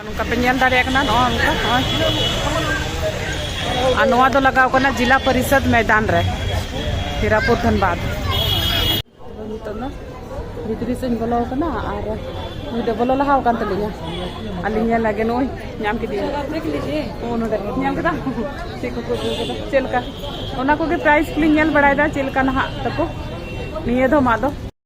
ᱱᱚᱝᱠᱟ ᱯᱮ ᱧᱮᱞ ᱫᱟᱲᱮᱭᱟᱜ ᱠᱟᱱᱟ ᱱᱚᱜᱼᱚ ᱱᱚᱝᱠᱟ ᱟᱨ ᱱᱚᱣᱟ ᱫᱚ ᱞᱟᱜᱟᱣ ᱠᱟᱱᱟ ᱡᱤᱞᱟ ᱯᱚᱨᱤᱥᱚᱫ ᱢᱚᱭᱫᱟᱱ ᱨᱮ ᱦᱤᱨᱟᱯᱩᱨ ᱫᱷᱟᱱᱵᱟᱫᱽ ᱱᱤᱛᱚᱜ ᱫᱚ ᱵᱷᱤᱛᱨᱤ ᱥᱮᱫ ᱤᱧ ᱵᱚᱞᱚ ᱟᱠᱟᱱᱟ ᱟᱨ ᱱᱩᱭ ᱫᱚ ᱵᱚᱞᱚ ᱞᱟᱦᱟ ᱟᱠᱟᱱ ᱛᱟᱹᱞᱤᱧᱟ ᱟᱹᱞᱤᱧ ᱧᱮᱞ ᱞᱟᱜᱮ ᱱᱩᱭ ᱧᱟᱢ ᱠᱮᱫᱮᱭᱟ ᱳ ᱱᱚᱰᱮ ᱧᱟᱢ ᱠᱮᱫᱟ ᱪᱮᱫ ᱠᱚᱠᱚ ᱟᱹᱜᱩ ᱠᱟᱫᱟ ᱪᱮᱫ ᱞᱮᱠᱟ ᱚᱱᱟ ᱠᱚᱜᱮ ᱯᱨᱟᱭᱤᱥ ᱠᱚᱞᱤᱧ ᱧᱮᱞ ᱵᱟᱲᱟᱭᱮᱫᱟ ᱪᱮᱫ ᱞᱮᱠᱟ ᱱᱟᱦᱟᱜ ᱛᱟᱠᱚ ᱱᱤᱭᱟᱹ ᱫᱷᱚᱢᱟᱜ ᱫᱚ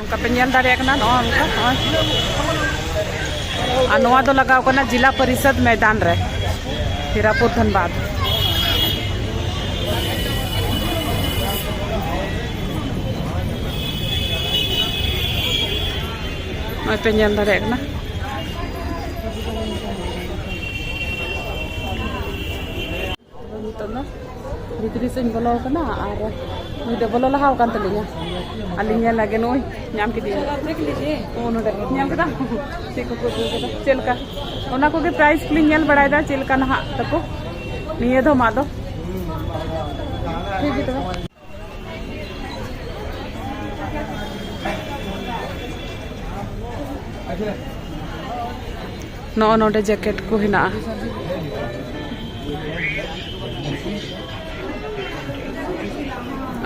ᱚᱱᱠᱟ ᱯᱮ ᱧᱮᱞ ᱫᱟᱲᱮᱭᱟᱜ ᱠᱟᱱᱟ ᱱᱚᱜᱼᱚ ᱚᱱᱠᱟ ᱟᱨ ᱱᱚᱣᱟ ᱫᱚ ᱞᱟᱜᱟᱣ ᱠᱟᱱᱟ ᱡᱤᱞᱟ ᱯᱚᱨᱤᱥᱚᱫ ᱢᱚᱭᱫᱟᱱ ᱨᱮ ᱦᱤᱨᱟᱯᱩᱨ ᱫᱷᱟᱱᱵᱟᱫᱽ ᱱᱚᱜᱼᱚᱭ ᱯᱮ ᱧᱮᱞ ᱫᱟᱲᱮᱭᱟᱜ ᱠᱟᱱᱟ ᱱᱤᱛᱚᱜ ᱫᱚ ᱵᱷᱤᱛᱨᱤ ᱥᱮᱫ ᱤᱧ ᱵᱚᱞᱚ ᱟᱠᱟᱱᱟ ᱟᱨ ᱱᱩᱭ ᱫᱚ ᱵᱚᱞᱚ ᱞᱟᱦᱟ ᱟᱠᱟᱱ ᱛᱟᱹᱞᱤᱧᱟ ᱟᱹᱞᱤᱧ ᱧᱮᱞ ᱞᱟᱜᱮ ᱱᱩᱭ ᱧᱟᱢ ᱠᱮᱫᱮᱭᱟ ᱱᱚᱜᱼᱚ ᱱᱚᱰᱮ ᱧᱮᱞ ᱠᱮᱫᱟ ᱪᱮᱫ ᱠᱚᱠᱚ ᱟᱹᱜᱩ ᱠᱟᱫᱟ ᱪᱮᱫ ᱞᱮᱠᱟ ᱚᱱᱟ ᱠᱚᱜᱮ ᱯᱨᱟᱭᱤᱥ ᱠᱚᱞᱤᱧ ᱧᱮᱞ ᱵᱟᱲᱟᱭᱮᱫᱟ ᱪᱮᱫ ᱞᱮᱠᱟ ᱱᱟᱦᱟᱜ ᱛᱟᱠᱚ ᱱᱤᱭᱟᱹ ᱫᱷᱚᱢᱟᱜ ᱫᱚ ᱴᱷᱤᱠ ᱜᱮ ᱛᱚᱵᱮ ᱱᱚᱜᱼᱚ ᱱᱚᱰᱮ ᱡᱮᱠᱮᱴ ᱠᱚ ᱦᱮᱱᱟᱜᱼᱟ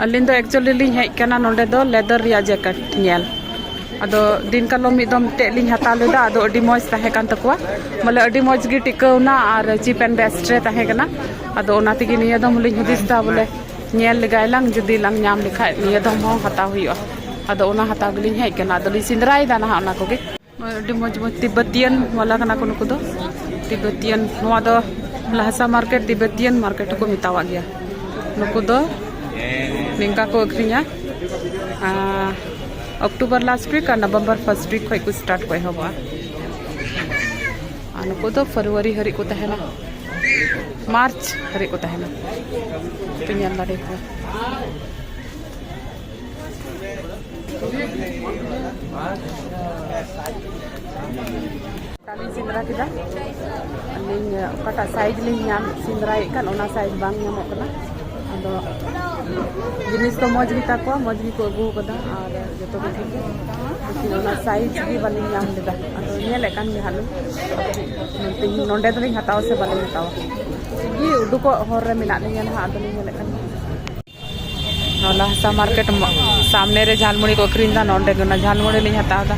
ᱟᱹᱞᱤᱧ ᱫᱚ ᱮᱠᱪᱩᱭᱮᱞᱤ ᱞᱤᱧ ᱦᱮᱡ ᱠᱟᱱᱟ ᱱᱚᱰᱮ ᱫᱚ ᱞᱮᱫᱟᱨ ᱨᱮᱭᱟᱜ ᱡᱮᱠᱮᱴ ᱧᱮᱞ ᱟᱫᱚ ᱫᱤᱱ ᱠᱟᱞᱚᱢ ᱢᱤᱫ ᱫᱚᱢ ᱢᱤᱫᱴᱮᱡ ᱞᱤᱧ ᱦᱟᱛᱟᱣ ᱞᱮᱫᱟ ᱟᱫᱚ ᱟᱹᱰᱤ ᱢᱚᱡᱽ ᱛᱟᱦᱮᱸ ᱠᱟᱱ ᱛᱟᱠᱚᱣᱟ ᱵᱚᱞᱮ ᱟᱹᱰᱤ ᱢᱚᱡᱽ ᱜᱮ ᱴᱤᱠᱟᱹᱣᱱᱟ ᱟᱨ ᱪᱤᱯ ᱮᱱᱰ ᱵᱮᱥᱴ ᱨᱮ ᱛᱟᱦᱮᱸ ᱠᱟᱱᱟ ᱟᱫᱚ ᱚᱱᱟ ᱛᱮᱜᱮ ᱱᱤᱭᱟᱹ ᱫᱚᱢ ᱦᱚᱸᱞᱤᱧ ᱦᱩᱫᱤᱥ ᱮᱫᱟ ᱵᱚᱞᱮ ᱧᱮᱞ ᱞᱮᱜᱟᱭ ᱞᱟᱝ ᱡᱩᱫᱤ ᱞᱟᱝ ᱧᱟᱢ ᱞᱮᱠᱷᱟᱡ ᱱᱤᱭᱟᱹ ᱫᱚᱢ ᱦᱚᱸ ᱦᱟᱛᱟᱣ ᱦᱩᱭᱩᱜᱼᱟ ᱟᱫᱚ ᱚᱱᱟ ᱦᱟᱛᱟᱣ ᱜᱮᱞᱤᱧ ᱦᱮᱡ ᱠᱟᱱᱟ ᱟᱫᱚ ᱞᱤᱧ ᱥᱮᱸᱫᱽᱨᱟᱭᱮᱫᱟ ᱱᱟᱦᱟᱜ ᱚᱱᱟ ᱠᱚᱜᱮ ᱟᱹᱰᱤ ᱢᱚᱡᱽ ᱢᱚᱡᱽ ᱛᱤᱵᱵᱚᱛᱤᱭᱟᱱ ᱵᱟᱞᱟ ᱠᱟᱱᱟ ᱠᱚ ᱱᱩᱠᱩ ᱫᱚ ᱛᱤᱵᱵᱚᱛᱤᱭᱟᱱ ᱱᱚᱣᱟ ᱫᱚ ᱞᱟᱦᱟᱥᱟ ᱢᱟᱨᱠᱮᱴ ᱛᱤᱵᱵᱚᱛᱤᱭᱟᱱ ᱢᱟᱨᱠᱮᱴ ᱦᱚᱸᱠᱚ ᱢᱮᱛᱟᱣᱟᱜ ᱜᱮᱭᱟ ᱱᱩᱠᱩ ᱫᱚ ᱱᱤᱝᱠᱟ ᱠᱚ ᱟᱹᱠᱷᱨᱤᱧᱟ ᱚᱠᱴᱳᱵᱚᱨ ᱞᱟᱥᱴ ᱩᱭᱤᱠ ᱟᱨ ᱱᱚᱵᱷᱮᱢᱵᱚᱨ ᱯᱷᱟᱨᱥᱴ ᱩᱭᱤᱠ ᱠᱷᱚᱡ ᱠᱚ ᱥᱴᱟᱨᱴ ᱠᱚ ᱮᱦᱚᱵᱚᱜᱼᱟ ᱟᱨ ᱱᱩᱠᱩ ᱫᱚ ᱯᱷᱮᱵᱽᱨᱩᱣᱟᱨᱤ ᱦᱟᱹᱨᱤᱡ ᱠᱚ ᱛᱟᱦᱮᱱᱟ ᱢᱟᱨᱪ ᱦᱟᱹᱨᱤᱡ ᱠᱚ ᱛᱟᱦᱮᱱᱟ ᱯᱮ ᱧᱮᱞ ᱫᱟᱲᱮ ᱠᱚᱣᱟ ᱞᱤᱧ ᱥᱮᱸᱫᱽᱨᱟ ᱠᱮᱫᱟ ᱟᱹᱞᱤᱧ ᱚᱠᱟᱴᱟᱜ ᱥᱟᱭᱤᱡᱽ ᱞᱤᱧ ᱧᱟᱢ ᱥᱮᱸᱫᱽᱨᱟᱭᱮᱫ ᱠᱟᱱ ᱚᱱᱟ ᱥᱟᱭᱤᱡᱽ ᱵᱟᱝ ᱧᱟᱢᱚᱜ ᱠᱟᱱᱟ ᱟᱫᱚ ᱡᱤᱱᱤᱥ ᱫᱚ ᱢᱚᱡᱽ ᱜᱮᱛᱟ ᱠᱚᱣᱟ ᱢᱚᱡᱽ ᱜᱮᱠᱚ ᱟᱹᱜᱩ ᱟᱠᱟᱫᱟ ᱟᱨ ᱡᱚᱛᱚ ᱠᱤᱪᱷᱩ ᱜᱮ ᱚᱱᱟ ᱥᱟᱭᱤᱡᱽ ᱜᱮ ᱵᱟᱹᱞᱤᱧ ᱧᱟᱢ ᱞᱮᱫᱟ ᱟᱫᱚ ᱧᱮᱞᱮᱫ ᱠᱟᱱ ᱜᱮ ᱦᱟᱸᱜ ᱞᱤᱧ ᱱᱚᱰᱮ ᱫᱚᱞᱤᱧ ᱦᱟᱛᱟᱣᱟ ᱥᱮ ᱵᱟᱹᱞᱤᱧ ᱦᱟᱛᱟᱣᱟ ᱜᱮ ᱩᱰᱩᱠᱚᱜ ᱦᱚᱨ ᱨᱮ ᱢᱮᱱᱟᱜ ᱞᱤᱧᱟ ᱱᱟᱦᱟᱜ ᱟᱫᱚᱞᱤᱧ ᱧᱮᱞᱮᱫ ᱠᱟᱱ ᱱᱚᱞᱟ ᱦᱟᱥᱟ ᱢᱟᱨᱠᱮᱴ ᱥᱟᱢᱱᱮ ᱨᱮ ᱡᱷᱟᱞᱢᱩᱲᱤ ᱠᱚ ᱟᱹᱠᱷᱨᱤᱧ ᱮᱫᱟ ᱱᱚᱰᱮ ᱜᱮ ᱚᱱᱟ ᱡᱷᱟᱞᱢᱩᱲᱤ ᱞᱤᱧ ᱦᱟᱛᱟᱣ ᱮᱫᱟ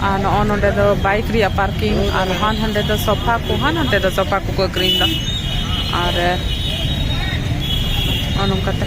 ᱟᱨ ᱱᱚᱜᱼᱚ ᱱᱚᱰᱮ ᱫᱚ ᱵᱟᱭᱤᱠ ᱨᱮᱭᱟᱜ ᱯᱟᱨᱠᱤᱝ ᱟᱨ ᱦᱟᱱ ᱦᱟᱸᱰᱮ ᱫᱚ ᱥᱚᱯᱷᱟ ᱠᱚ ᱦᱟᱱ ᱦᱟᱸᱰᱮ ᱫᱚ ᱥᱚᱯᱷᱟ ᱠᱚᱠᱚ ᱟᱹᱠᱷᱨᱤᱧ ᱮᱫᱟ ᱟᱨ ᱱᱚᱜᱼᱚ ᱱᱚᱝᱠᱟᱛᱮ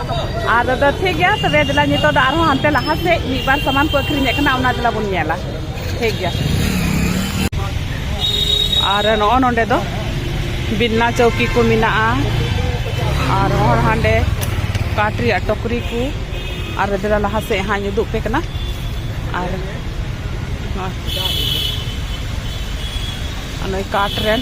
ᱟᱨ ᱫᱟᱫᱟ ᱴᱷᱤᱠ ᱜᱮᱭᱟ ᱛᱚᱵᱮ ᱫᱮᱞᱟ ᱱᱤᱛᱚᱜ ᱫᱚ ᱟᱨᱦᱚᱸ ᱦᱟᱱᱛᱮ ᱞᱟᱦᱟ ᱥᱮᱫ ᱢᱤᱫ ᱵᱟᱨ ᱥᱟᱢᱟᱱ ᱠᱚ ᱟᱹᱠᱷᱨᱤᱧᱮᱫ ᱠᱟᱱᱟ ᱚᱱᱟ ᱫᱮᱞᱟ ᱵᱚᱱ ᱧᱮᱞᱟ ᱴᱷᱤᱠ ᱜᱮᱭᱟ ᱟᱨ ᱱᱚᱜᱼᱚ ᱱᱚᱰᱮ ᱫᱚ ᱵᱤᱱᱱᱟ ᱪᱚᱣᱠᱤ ᱠᱚ ᱢᱮᱱᱟᱜᱼᱟ ᱟᱨ ᱦᱚᱲ ᱦᱟᱸᱰᱮ ᱠᱟᱴ ᱨᱮᱭᱟᱜ ᱴᱚᱠᱨᱤ ᱠᱚ ᱟᱨ ᱫᱮᱞᱟ ᱞᱟᱦᱟ ᱥᱮᱫ ᱦᱟᱸᱜ ᱩᱫᱩᱜ ᱯᱮ ᱠᱟᱱᱟ ᱟᱨ ᱱᱚᱜᱼᱚᱭ ᱠᱟᱴ ᱨᱮᱱ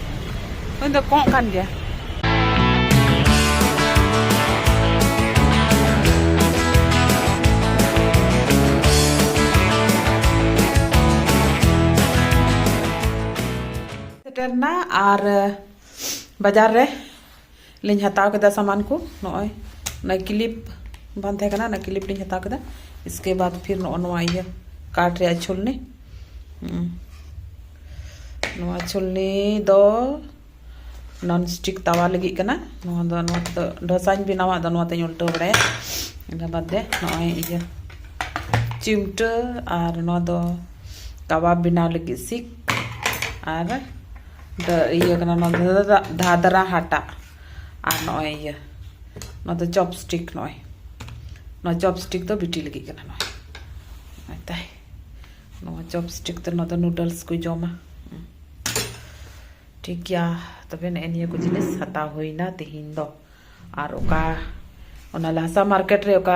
ᱩᱱᱤ ᱫᱚ ᱠᱚᱸᱜ ᱠᱟᱱ ᱜᱮᱭᱟ ᱥᱮᱴᱮᱨᱱᱟ ᱟᱨ ᱵᱟᱡᱟᱨ ᱨᱮ ᱞᱤᱧ ᱦᱟᱛᱟᱣ ᱠᱮᱫᱟ ᱥᱟᱢᱟᱱ ᱠᱚ ᱱᱚᱜᱼᱚᱭ ᱚᱱᱟ ᱠᱞᱤᱯ ᱵᱟᱝ ᱛᱟᱦᱮᱸ ᱠᱟᱱᱟ ᱚᱱᱟ ᱠᱞᱤᱯ ᱞᱤᱧ ᱦᱟᱛᱟᱣ ᱠᱮᱫᱟ ᱤᱥᱠᱮ ᱵᱟᱫ ᱯᱷᱤᱨ ᱱᱚᱜᱼᱚ ᱱᱚᱣᱟ ᱤᱭᱟᱹ ᱠᱟᱴ ᱨᱮᱭᱟᱜ ᱪᱷᱩᱞᱱᱤ ᱱᱚᱣᱟ ᱪᱷᱩᱞᱱᱤ ᱫᱚ ᱱᱚᱱ ᱥᱴᱤᱠ ᱛᱟᱣᱟ ᱞᱟᱹᱜᱤᱫ ᱠᱟᱱᱟ ᱱᱚᱣᱟ ᱫᱚ ᱱᱚᱣᱟ ᱫᱚ ᱰᱷᱚᱥᱟᱧ ᱵᱮᱱᱟᱣᱟ ᱟᱫᱚ ᱱᱚᱣᱟ ᱛᱮᱧ ᱩᱞᱴᱟᱹᱣ ᱵᱟᱲᱟᱭᱟ ᱤᱱᱟᱹ ᱵᱟᱫ ᱨᱮ ᱱᱚᱜᱼᱚᱭ ᱤᱭᱟᱹ ᱪᱤᱢᱴᱟᱹ ᱟᱨ ᱱᱚᱣᱟ ᱫᱚ ᱠᱟᱵᱟᱵ ᱵᱮᱱᱟᱣ ᱞᱟᱹᱜᱤᱫ ᱥᱤᱠ ᱟᱨ ᱤᱭᱟᱹ ᱠᱟᱱᱟ ᱱᱚᱣᱟ ᱫᱚ ᱫᱷᱟᱫᱨᱟ ᱦᱟᱴᱟᱜ ᱟᱨ ᱱᱚᱜᱼᱚᱭ ᱤᱭᱟᱹ ᱱᱚᱣᱟ ᱫᱚ ᱪᱚᱯᱥᱴᱤᱠ ᱱᱚᱜᱼᱚᱭ ᱱᱚᱣᱟ ᱪᱚᱯᱥᱴᱤᱠ ᱫᱚ ᱵᱤᱴᱤ ᱞᱟᱹᱜᱤᱫ ᱠᱟᱱᱟ ᱱᱚᱜᱼᱚᱭ ᱱᱚᱜᱼᱚᱭ ᱛᱟᱭ ᱱᱚᱣᱟ ᱪᱚᱯᱥᱴᱤᱠ ᱛᱮ ᱱᱚᱣᱟ ᱫᱚ ᱱᱩᱰᱚᱞᱥ ᱠᱚ ᱡᱚᱢᱟ ᱴᱷᱤᱠ ᱜᱮᱭᱟ ᱛᱚᱵᱮ ᱱᱮᱜᱼᱮ ᱱᱤᱭᱟᱹ ᱠᱚ ᱡᱤᱱᱤᱥ ᱦᱟᱛᱟᱣ ᱦᱩᱭᱱᱟ ᱛᱮᱦᱮᱧ ᱫᱚ ᱟᱨ ᱚᱠᱟ ᱚᱱᱟ ᱞᱟᱦᱟᱥᱟ ᱢᱟᱨᱠᱮᱴ ᱨᱮ ᱚᱠᱟ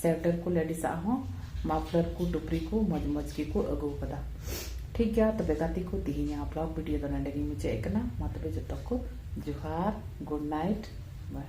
ᱥᱮᱣᱴᱮᱨ ᱠᱚ ᱞᱮᱰᱤᱥ ᱟᱜ ᱦᱚᱸ ᱢᱟᱯᱷᱞᱟᱨ ᱠᱚ ᱴᱩᱯᱨᱤ ᱠᱚ ᱢᱚᱡᱽ ᱢᱚᱡᱽ ᱜᱮ ᱠᱚ ᱟᱹᱜᱩ ᱟᱠᱟᱫᱟ ᱴᱷᱤᱠ ᱜᱮᱭᱟ ᱛᱚᱵᱮ ᱜᱟᱛᱮ ᱠᱚ ᱛᱤᱦᱤᱧᱟᱜ ᱵᱞᱚᱜ ᱵᱷᱤᱰᱤᱭᱳ ᱫᱚ ᱱᱚᱰᱮ ᱜᱤᱧ ᱢᱩᱪᱟᱹᱫ ᱮᱫ ᱠᱟᱱᱟ ᱢᱟ ᱛᱚᱵᱮ ᱡᱚᱛᱚ ᱠᱚ ᱡᱚᱦᱟᱨ ᱜᱩᱰ ᱱᱟᱭᱤᱴ ᱵᱟᱭ